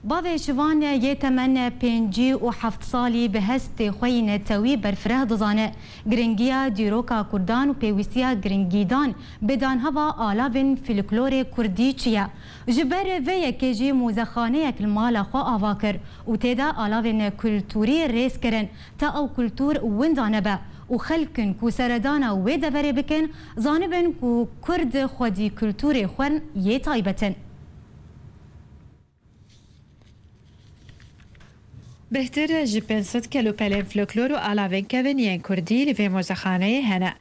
Bavê Şivan yê temen pêncî û heft salî bi hestê xwe yî netewî berfireh dizane girîngiya dîroka Kurdan û pêwîstiya girîngîdan bi danheva alavên fîlklorê kurdî çi ye. Ji ber vê yekê jî mûzexaneyek li mala xwe ava kir û tê de alavên kulturî rêz kirin ta ew kultur winda nebe û xelkin ku seredana wê deverê bikin zanibin ku kurd xwedî kulturê xwe yê taybet in. Bêhtir ji pênc sed kelûpelên floklor û alavên kevên yên kurdî li vê mozexaneyê hene.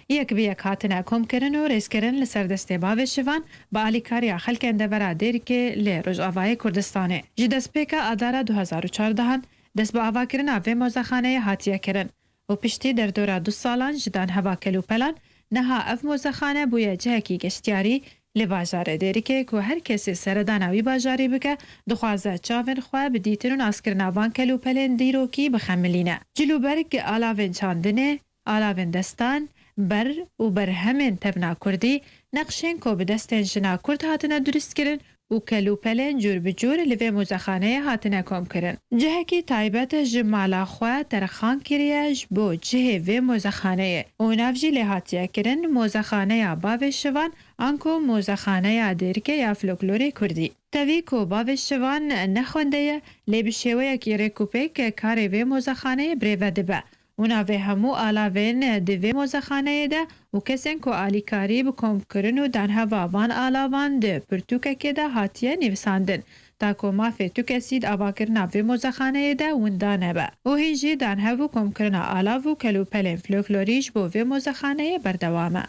Yek bi yek hatine komkirin û rêzkirin li ser destê bavê şivan bi alîkariya xelkên devera Dêrikê lê Rojavayê Kurdistanê. Ji destpêka adara du hezar û çardehan dest bi avakirina vê mozexaneyê hatiye kirin û piştî derdora du salan ji dan heva kelûpelan niha ev mozexane bûye cihekî geştyarî li bajarê Dêrikê ku her kesê seredana wî bajarî bike dixwaze çavên xwe bi dîtin û naskirina van kelûpelên dîrokî bixemilîne. Cilûberg alavên çandinê, alavên destan, ber û berhemên tevna kurdî, neqşên ku bi destên jina kurd hatine duristkirin, û kelûpelên cûr bi cûr li vê muzexaneyê hatine komkirin. Cihekî taybet ji mala xwe terxan kiriye ji bo cihê vê muzexaneyê û nav jî lê hatiye kirin Muzexaneya Bavê Şivan an ku Muzexaneya Dêrike ya Floklorê Kurdî. Tevî ku Bavê Şivan ne xwendeye lê bi şêweyekî rêkûpêk karê vê muzexaneyê birêve dibe Û navê hemû alavên di vê mozexaneyê de û kesên ku alîkarî bi komkirin û danheva van alavan di pirtûkekê de hatiye nivîsandin ta ku mafê tu kesî di avakirina vê mozexaneyê de winda nebe. Û hîn jî danhev û komkirina alav û kelûpelên floklorî ji bo vê mozexaneyê berdewam e.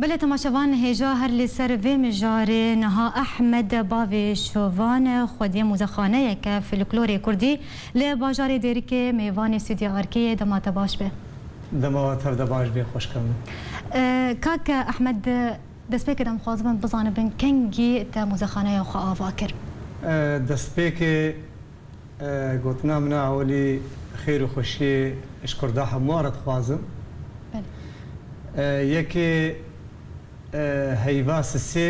Belê temaşevan hêja her li ser vê mijarê niha Ehmed bavê şovan xwediyê muzexaneyeke filiklorê kurdî li bajarê Dêrikê mêvanê stûdya Arkeyê dema te baş be. Dema we tevde baş bê xweşka min. Kak Ehmed destpêkê dem xwazibin bizanibin kengî te muzexaneya xwe ava kir. Destpêkê Gotina min a ewelî xêr û xweşiyê ji Kurda hemû re dixwazim. Yekê heyva sisê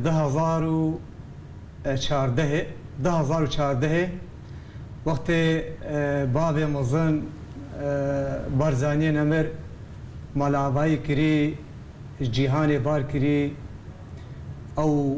du hezar û çardehê du hezar û çardehê wextê bavê mezin Barzaniyê Nemir mala avayî kirî ji cîhanê bar kirî ew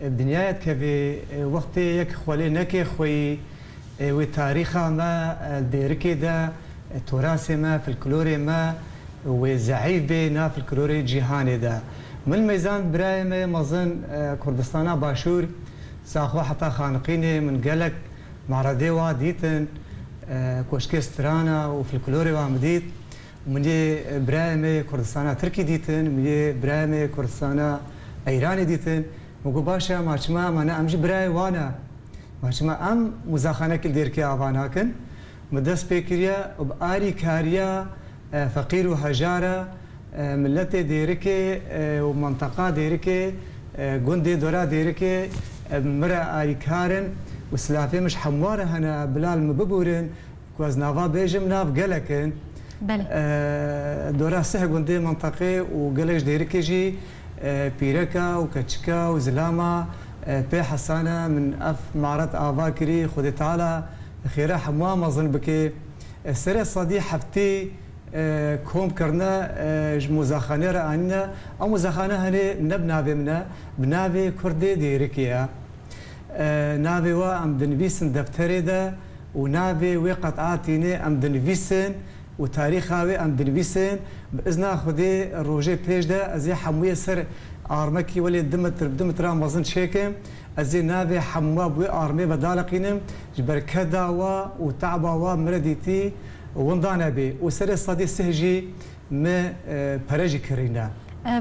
Ev dinyaya dikeve wextê yek xwelê neke xweyî wê tarîxa me, dêrikê de, torasê me, filklorê me wê zeîf bê na filklorê cîhanê de. Min mêzand birayê me yê mezin Kurdistana Başûr Saxo heta Xaniqînê min gelek me'redê wa dîtin, koşkê strana û filklorê wan bidît. Min yê birayê me yê Kurdistana Tirkî dîtin, min yê birayê me yê Kurdistana Eyranî dîtin. Min got baş e, ma çima ma ne em jî birayê wan e. Ma çima em mûzaxaneke li Dêrkê Ava nakin. Min dest pê kiriye û bi alîkariya feqîr û hejar e miletê Dêrikê û menteqa Dêrikê, gundê dora Dêrikê min re alîkar in û silavê min ji hemû re hene bila li min bibûrin. Ku ez nava bêjim nav gelek in. Belê. Dora sih gundê minteqê û gelek ji dêrikê jî pîreka û keçika û zilama pê hesa ne. Min ev maret ava kirî Xwedê Teala bi xêra hemûan mezin bikê. Serê sedî heftê kom kirine ji mozaxanê re anîne. Ew mozaxane henê ne bi navê min e, bi navê kurdê dêrikê ye. Navê we em dinivîsin defterê de û navê wê qet a tînê em dinivîsin û tarîxa wê em dinivîsin. Bi izna Xwedê rojê pêş de ez ê hemûyê ser armekî welê du mitr bi du mitran mezin çêkim. Ez ê navê hemû we bi wê armê ve daliqînim ji ber keda we û te'ba we min re dîtî winda nebê û serê sedî sih jî me pere jî kirîne.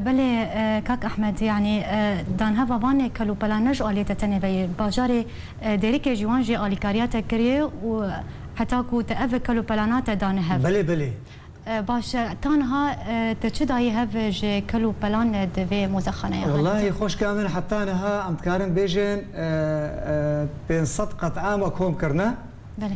Belê kak Ehmed yanî danheva van ê kel û pelan ne ji aliyê te tenê veyê. Bajarê Dêrikê jî wan jê alîkariya te kirîyê û heta ku te ev kel û pelana te dane hev. Belê belê. Baş e tanha te çi dayî hev ji kel û pelan di vê mozexaneya hate? Wellahî xoşka min heta niha em dikarin bêjin pênc sed qet ame kom kirine. Belê.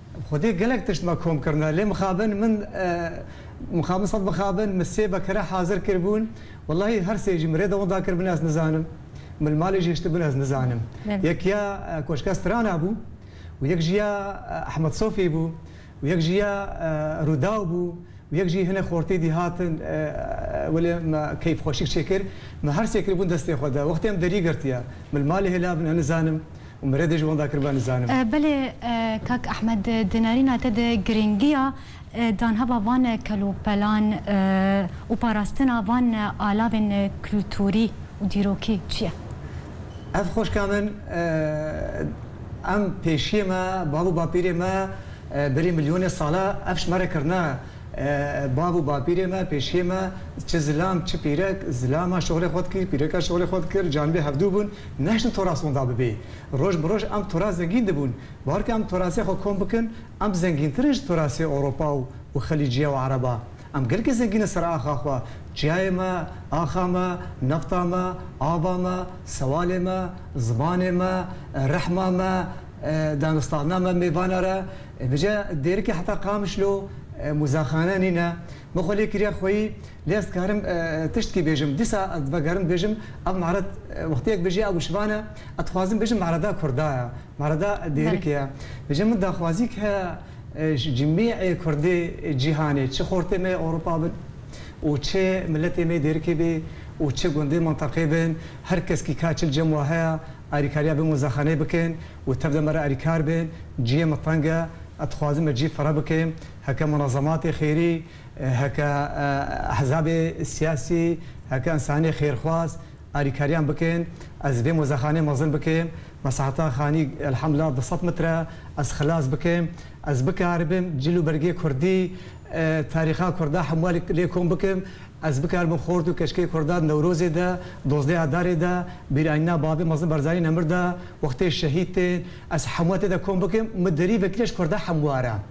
Xwedê gelek tişt me kom kirine lê mixabin min mixabin sed mixabin min sê bekire hazir kiribûn wellahî her sê jî min rê de winda kiribûn ez nizanim min li malê jî hiştibûn ez nizanim yek ya koşka strana bû û yek jî ya Ehmed Sofî bû û yek jî ya Rûdaw bû û yek jî hinek xortî dî hatin welê me keyf xweşik çêkir min her sê kiribûn destê xwe de wextê em derî girtiye min li malê hêlavin ez nizanim û min re dê ji wan dakir ba nizanim. Belê kak Ehmed di nerîna te de girîngiya danheva van kelopelan û parastina van alavên kulturî û dîrokî çi ye? Ev xweşka min em pêşiyê me bav û bapîrê me berî milyonê sala ev ji me re kirine. Bav û bapîrê me pêşiyê me çi zilam çi pîrek, zilama şixulê xwe dikir, pîreka şixulê xwe dikir, canibê hevdû bûn. Neştin toras winda bibê. Roj bi roj em toras zengîn dibûn. Baharke em torasê xwe kom bikin, em zengîntir in ji torasê Ewropa û û Xelîciya û Ereba. Em gelekî zengîn in ser axa xwe, çiyayê me, axa me, nefta me, ava me, sewalê me, zimanê me, rehma me, dangistarina me mêvane re. Vije dêrikê heta Qamişlo mûzexane nîne. Min xwe lê kiriya xweyî, lê ez dikarim tiştkî bêjim. Dîsa ez vegerim bêjim ev mered wextiyek bijî ew şivan e. Ez dixwazim bêjim mereda kurda ye, mereda dêrikê ye. Bêje min daxwaziyek heye ji cimîyê kurdê cîhanê, çi xortê me yê Ewropa bin û çi miletê me yê dêrikê bê û çi gundê mintaqê bin, her keskî ka çil cem wa heye, alîkariya bin wezexaneyê bikin û tev de me re alîkar bin. Ciyê min teng e. Ez dixwazim me cî fireh bikim. Heke munezematê xêrî, heke ehzabê siyasî, heke însanê xêrxwaz alîkariyan bikin. Ez vê mozexaneyê mezin bikim, mesaheta xanî elhemdullah du sed mitre e, ez xilas bikim. Ez bikaribim cil û bergê kurdî, tarîxa kurda hemûa lê kom bikim. Ez bikaribim xort û keşkê kurda di Newrozê de, dozdeh Adarê de, bîrayîna Babê Mezin Barzanî Nemir de, wextê şehîd tên, ez hemûa tê de kom bikim. Mi derî vekirî ya ji kurda hemûar e.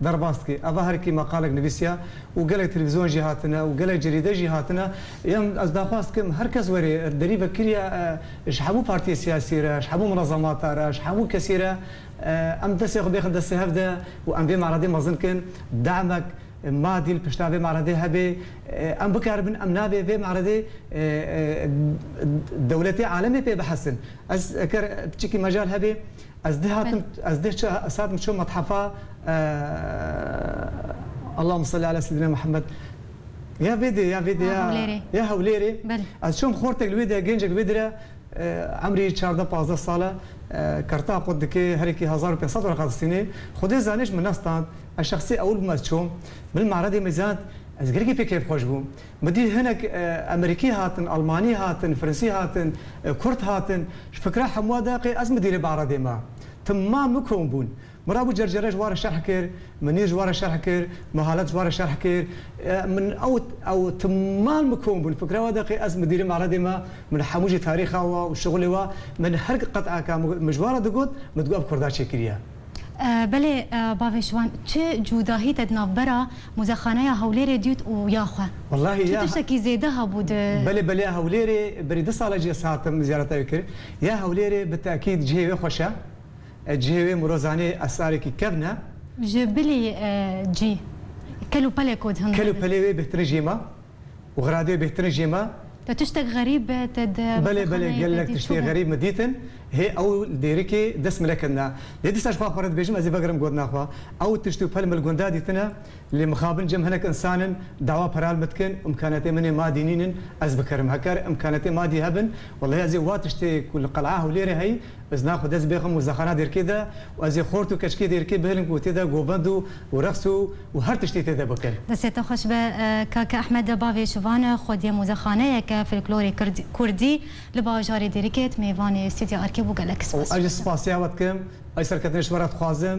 Derbas dike. Eva herikî meqalek nivîsiya û gelek televîzyon jî hatine û gelek cerîde jî hatine. Yan ez daxwaz dikim her kes were derî vekiriya ji hemû partiyê siyasî re, ji hemû munezemata re, ji hemû kesî re em destê xwe bêxin destê hev de û em vê meredê mezin bikin. Demek madî li pişta vê meredê hebe, em bikaribin. Em nabê vê meredê dewletê alemê pê bihsin. Ez eger piçikî mecal hebe. Ez dê hatim ez dê çi ez hatim çi methafa Allahuma salli ala seyyidina Muhammed ya vê dê ya vê dê ya ya Hewlêrê ez çom xortek li wê de gencek wê dire emrî çardeh pazdeh sal e kerta qut dike herekî hezar û pênc sed wereqa distînê Xwedê zanî ji min nas stand ez şexsî ewil bûm ez çom bil meredê me zand ez gelekî pê keyfxweş bûm Bi dî hinek Emerîkî hatin, Elmanî hatin, Firinsî hatin, Kurd hatin. Ji fikra hemûa de qê ez mi dîrê Behradê me. Tim ma mi kom bûn. Min rabû Cercere ji ware şerh kir, Minîr ji ware şerh kir, Mihalet ji ware şerh kir. Min ew ew tim mal mi kom bûn. Fikra we de qê ez mi dîrê Behradê me, min hemû jî tarîxa we û şixulê we, min her qet'eka mi ji ware digot, min digot ev Kurda çêkiriye. Belê bavê ji wan çi cûdahî te di navbera Muzexaneya Hewlêrê dît û ya xwe? Wellahî ya. Çi tiştekî zêde hebû di. Belê belê ya Hewlêrê berî du sal e cî ez hatim zîyareta wî kir. Ya Hewlêrê bi tekîd cihê wê xweş e. Cihê wê miro zanê esrarekî kevn e. Ji bilî cî kel û pelê ku di hin de. Kel û pelê wê bêhtirîn jiyê ma. û xiradê bêhtirin jê me. Te tiştek xerîb be te di xestaneyê Belê belê gelek vedî tiştê çû be? xerîb min dîtin. Hê ew li dêrikê dest min nekirina. Lê dîsa ji xwe xwe re dibêjim ez ê vegirim gotina xwe. Ew tişt û pel min li gunda dîtine. Lê mixabin cem hinek însan in dawa peral min dikin û îmkanetên min ê madî nînin ez bikarim. Heger îmkanetên madî hebin wellahî ez ê wa tiştê ku li qeleya Hewlêrê heyî Ez naxwe dest bê xwe mozexana dêrkê de û ez ê xort û keçikê dêrkê bihilim ku tê de govend û û reqs û û her tiştê tê de bikin. Destê te xweş be Kake Ehmed bavê şivan e, xwediye mozexaneyeke folklorê kird kurdî li bajarê Dêrikê it mêvanê Stûdya Erkê bû gelek spas ji te. Spasîya we dikim, serketina ji we re dixwazim.